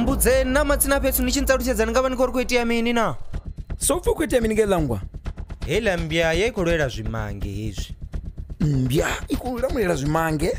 mbudzeni na matsina pethu ni xintsaluxedzani nga va ni ko ri ku itiya mini na so pfa ku itea mini nge langwa hela mbya ya yi khou lwela zwimange hezwi mbya i khou lamulela zwimange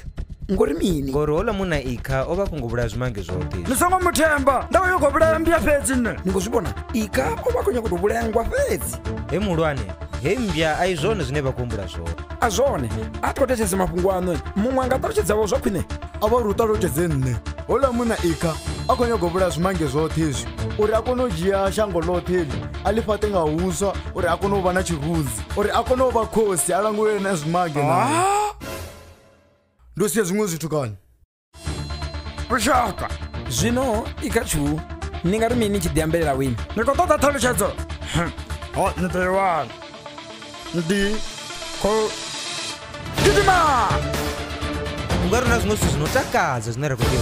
ngori mini ngori hola munna ikha o vha a khou ngo vhulaya zwimange zwoṱhe ni songo mu themba ndavha yo khou vhulaya mbya fhedzi nṋe ni khou zwi vhona ikha o vha a khou nyako tou vhulaya ngwa fhedzi he muhulwane he mbya a i zwone zwine vha khou humbula zwone a zwone a tho thetshelese mafhungo aṋu muṅwe a nga ṱalutshedzavho zwa khwine a vha ri u ṱalutshedze nṋe hola munna ikha a khou nyanga u vhulaya zwimange zwoṱhe izwi uri a kone u dzhia shango ḽoṱhe eli a ḽi fhaṱe nga huswa uri a kone u vha na tshirunzi uri a kone u vha khosi a langulele na zwimange nae ndo sia zwiṅwe zwithu kani vhushaka zwino i kha tshu ni nga ri mini tshi ḓi ambelela wini ni khou ṱoḓa ṱhalutshedzo ho ni ḓo i wana ndi khou gidima u nga ri na zwiṅwe zwithu zwi no takadza zwine ra khou tea